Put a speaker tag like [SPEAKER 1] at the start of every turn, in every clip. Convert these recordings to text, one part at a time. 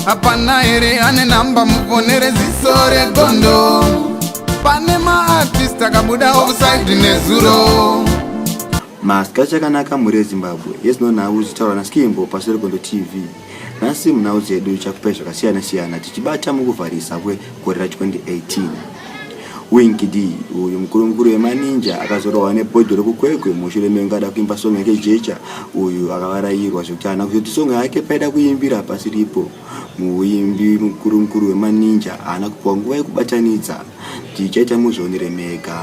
[SPEAKER 1] hapana here ane namba muvonere ziso regondo pane maartist akabuda offside nezuro
[SPEAKER 2] maskach akanaka mhuri yezimbabwe yezino nhau zitaura naskimbo paseri kondo tv nhasi munhau dzedu chakupai zvakasiyana siyana tichibata mukuvharisa kwe Gore ra 2018 Winkidi uyu mukuru mukuru wemaninja akazorohwa nebhodho rekukwekwe mushure mengu ada kuimba song yake jecha uyu akavarayirwa zvekuti haana kuzoti song yake paida kuimbira pasi ripo muimbi mukuru mukuru wemaninja haana kupiwa nguva yekubatanidza tichaita muzvionere mega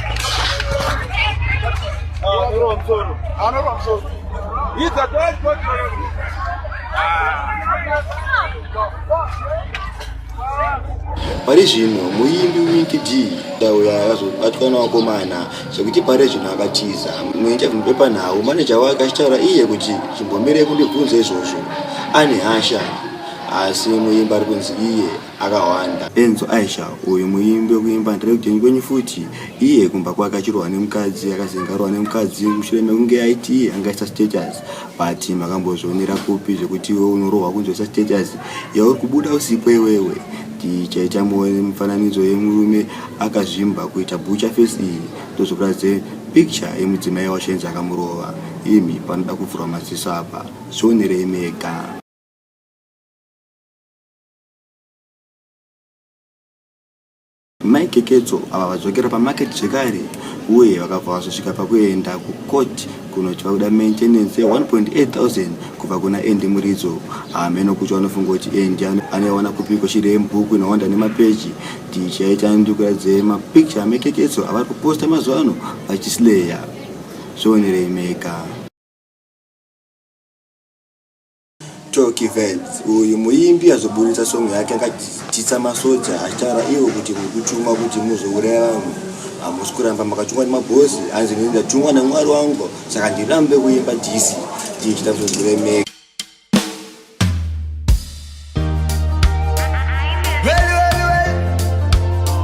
[SPEAKER 2] pari zvino muimbi winky d dauya akazobatwa nevakomana zvekuti pari zvino akatiza muinterview pepanhau maneja wake achitaura iye kuti chimbomirei kundibvunza izvozvo ane hasha asi muimbi ari kunzi iye akawanda enzo aisha uyu muimbi wekuimba ndireudeni kwenyu futi iye kumba kwake achirohwa nemukadzi akazengarohwa nemukadzi mushure mekunge aiti angaisa status but makambozvionera kupi zvekuti iwe unorohwa kunzoisa status yauri kubuda usipo iwewe tichaita mufananidzo yemurume akazvimba kuita bucha face iyi ndozvokuratidze picture yemudzimai wacho enzi akamurova imi panoda kuvhurwa maziso apa zvionerei mega Mai Keketso ava vadzokera pamarket zvekare uye vakabva vazosvika pakuenda kucourt kunoti vakuda maintenance ye1.8000 kubva kuna Andy Muridzo. Hameno kuti vanofunga kuti Andy anoiwana kupiko shiri yemubhuku inowanda nemapeji. Tichaita ndikuratidze mapicture amai Keketso avari kuposta mazuva ano vachisleya. Zvionerei mega. Tocky Vibes uyu muimbi azoburitsa song yake akatyisa masoja achitaura ivo kuti muri kutumwa kuti muzouraya vamwe hamusi kuramba makatumwa nemabhosi hanzi ini ndatumwa namwari wangu saka ndirambe kuimba disi ndichita kuzoziremeka
[SPEAKER 1] Well, well, well.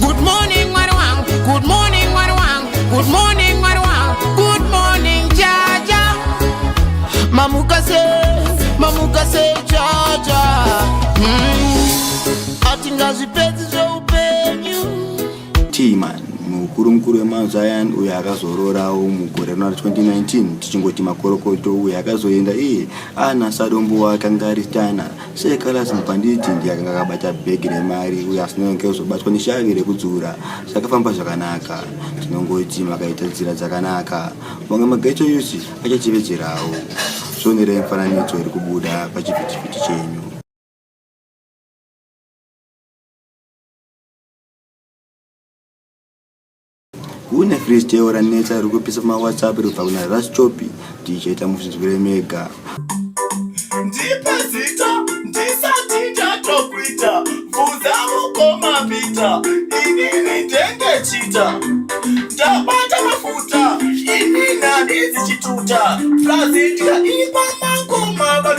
[SPEAKER 3] Good morning mwari wangu, good morning mwari wangu, good morning mwari wangu, good morning jaja. Mamuka se, mamuka se jaja. Mm. Atingazvipedzi
[SPEAKER 2] zveupenyu.
[SPEAKER 3] Timan mukuru
[SPEAKER 2] mukuru wemazion uyo akazororawo mugore rina 2019 tichingoti makorokoto uyo akazoenda iye ana sadombo wake angari tana She Callas Mupanditi ndiye akanga akabata bhegi remari uye asinonge kuzobatwa neshavi rekudzura. Zvakafamba zvakanaka. Tinongoti makaita nzira dzakanaka. Mamwe maghetto youth achatevedzerawo. Zvionerei mifananidzo iri kubuda pachivhitivhiti chenyu. kune freestyle ranetsa riri kupisa pamawhatsapp riri kubva kuna raschopi tichaita muzvinzwire mega
[SPEAKER 4] ndipe zita ndisati ndatokuita bvunza mukoma pita inini ndenge chita ndabata mafuta inini handizi chituta prazidya ipamangoma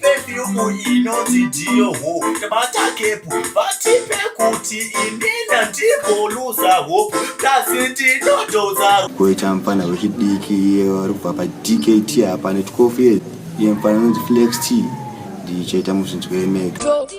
[SPEAKER 4] pefyumu inonzi dhiyoho vatakepu vatipe kuti indinda ndiboluza hope plasi ndinotoza koita mfana
[SPEAKER 2] wechidiki iye wari kubva padkt hapane tikofu iye mfana anonzi flex t ndichaita muzinzwemeka